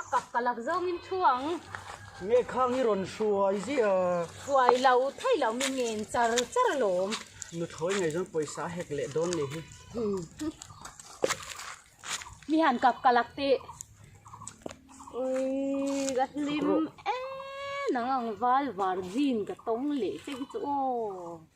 A kak ka lak zawng in thu ang. Nge khang hi rawn hruai zia. Hruai lo thei lo mi nge in char char a lawm. Nu thawi nei zawn pawisa a hek leh dawn ni hi. Mi han kak ka lak teh. Ui ka hlim e nang ang val var jean ka tawng leh che hi chu aw.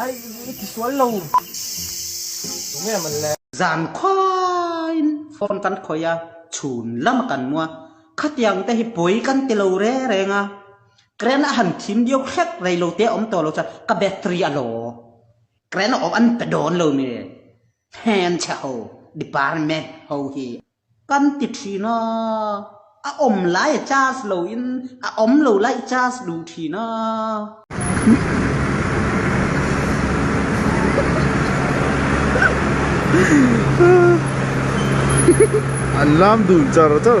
Ai i ti sual lo. Tum em an le. Zan khuain phone kan khawih a, chhun lam a kan mua. Khatiang te hi pawi kan ti lo re reng a. Current a han thim deuh hlek rei lo te awm tawh lo chuan ka battery a law. Current a awm an pe dawn lo mai e. Hmeichhe ho, department ho hi. Kan ti thin a, a awm lai a charge lo in a awm lo lai i charge duh thin a. An lam dun char char.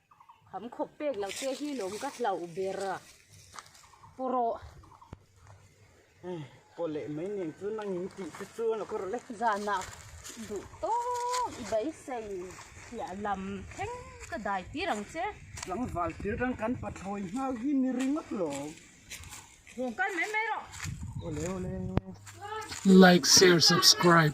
Kham khawp pek lo te hi lawm ka hlauh ber a, pawraw. Ai, pawh leh mai nen chu nang in tih te chu a la ka rawh le. Zanah duh tawh i beisei hliah lam thleng ka dai tir ang che. Tlangval thil rang kan pa thawi nghal hi ni ringawt lo. Kawngkar mai mai rawh. Awle awle. Like share subscribe